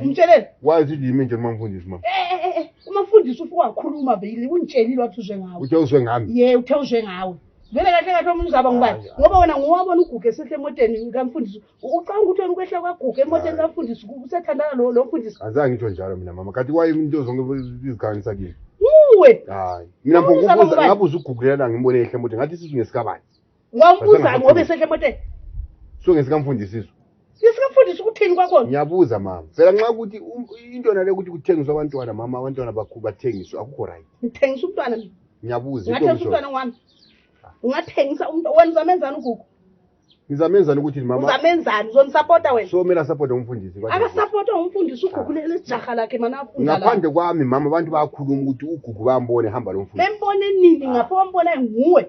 umtshelele wazi ukuthi yimi nje noma mfundisi mama Eh, eh, eh, eh, umafundisi ufike wakhuluma beyile ungitshelile wathi uzwe ngawe uthe uzwe ngami ye uthe uzwe ngawe vele kahle kahle omunye uzaba ngubani Hayi, hayi. ngoba wena ngowabona uguge esehle emoteni kamfundisi U- ucabanga ukuthi wena ukwehla kwaguge emoteni kamfundisi ku- usethandana lo lo mfundisi azange ngitsho njalo mina mama kanti waye into zonke izikhanisa kimi nguwe hayi mina Ubuza mbokubuza ngubani? ngabuza ugugulela ngimbonehle mode ngathi isizwe ngesikabani wambuza ngobe sehla emoteni sungesikaMfundisiso ngesikafundisa ukuthini kwakhona ngiyabuza mama phela nxa ukuthi um, into yona le ukuthi kuthengiswa abantwana mama abantwana bakhu bathengiswe akukho right ngithengisa umntwana mina ngiyabuza ngathengisa umntwana wami ungathengisa umuntu wena uzamenzani ugugu ngizamenzani ukuthi mama uzamenzani uzonisapota wena so mele asapota umfundisi akasapota umfundisi ugugu ah. lejaha lakhe mana afunda ngaphandle kwami mama abantu bayakhuluma ukuthi ugugu bambone hamba lo mfundisi bembone nini ngapho bambona nguwe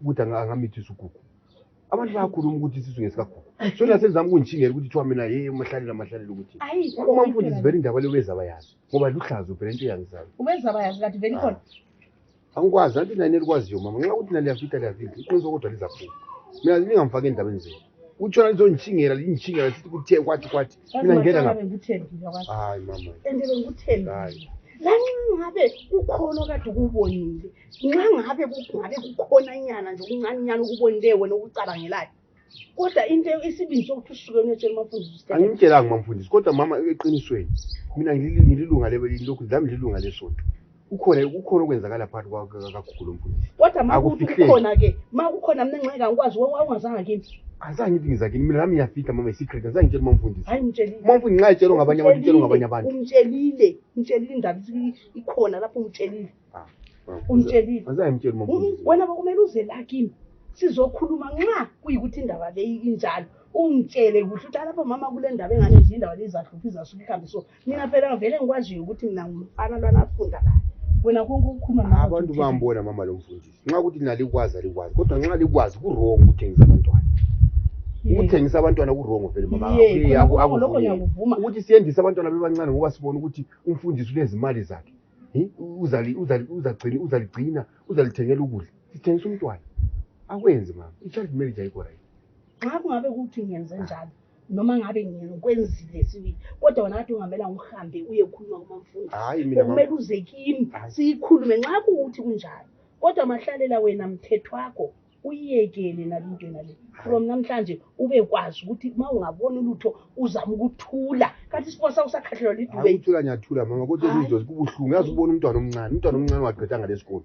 ukuthi angamithisa ugugu abantu bayakhuluma ukuthi isisu ngesikagugu so nasenzami kungitshinga ukuthi kuthiwa mina ye mahlalela mahlalela ukuthi uma mfundisi vele indaba leyo bezaba yazi ngoba luhlaza uvele into yangisayo ubezaba yazi kati vele khona ah. angikwazi anti nani elikwaziyo mama nxa ukuthi naliyafita liyafita iqiniso kodwa lizaphuma mina lingamfaki endabeni zenu uchona lizonichingira linichingira siti kuti kwati kwati mina ngena lapha hayi mama ende bengikuthembi hayi nangabe kukhona kade ukubonile nxa ngabe kungabe kukhona nyana nje okuncane nyana okubonileyo wena okucabangelayo kodwa into isibili sokuthi usuke niyotshela umafundisi angimtshelanga umamfundisi kodwa mama eqinisweni mina ngililunga lokhu zami lilunga lesonto kukhona kukhona okwenzakala phakathi kwakakhulu mfundisi kodwa ma kuthi Akufihleki. kukhona ke ma kukhona mna nxeka ngikwazi we- wawungazanga kimi azange ithi ngizakini mina nami ngiyafihla mama isecret azange ngitshela umamfundisi hayi umtshelile umamfundisi nxa etshelwe ngabanye abantu itshelwe ngabanye abantu umtshelile umtshelile indaba ithi ikhona lapho umtshelile umtshelile azange ngimtshele Mm, umamfundisi wena bakumele uze la kimi sizokhuluma nxa kuyikuthi indaba leyi injalo ungitshele kuhle ukuthi alapho mama kule ndaba engane nje indaba leyi izahlupha izahlupha ihambe so Mina phela ngivele ngikwaziyo ukuthi mina ngumfana lwana afunda la. Wena konke ukukhuluma nawe. Abantu bambona mama lo mfundisi. Nxa ukuthi nina likwazi alikwazi kodwa nxa likwazi ku-wrong ukuthengisa abantwana. Ukuthengisa abantwana ku-wrong vele mama. Ukuthi siyendise abantwana bebancane ngoba sibona ukuthi umfundisi ulezimali zakhe. Uzaligcina, uzalithengela ukudla. Sithengisa umntwana. Akwenzi mama. I-child marriage ayikho right. Nxa kungabe kuthi ngenze njalo. noma ngabe ngikwenzile sibili kodwa wena kade ungamela ngihambe uye khuluma kumamfundi hayi mina kumele uze kimi siyikhulume nxa kuwuthi kunjalo kodwa mahlalela wena mthetho wakho uyiyekele nalo into yona le from namhlanje ube kwazi ukuthi uma ungaboni ulutho uzama ukuthula kanti isibona sakho sakhahlelwa liduuthula ngiyathula mama kodwa izinto zikubuhlungu yazi ubona umntwana omncane umntwana omncane wagqeda ngalesikolo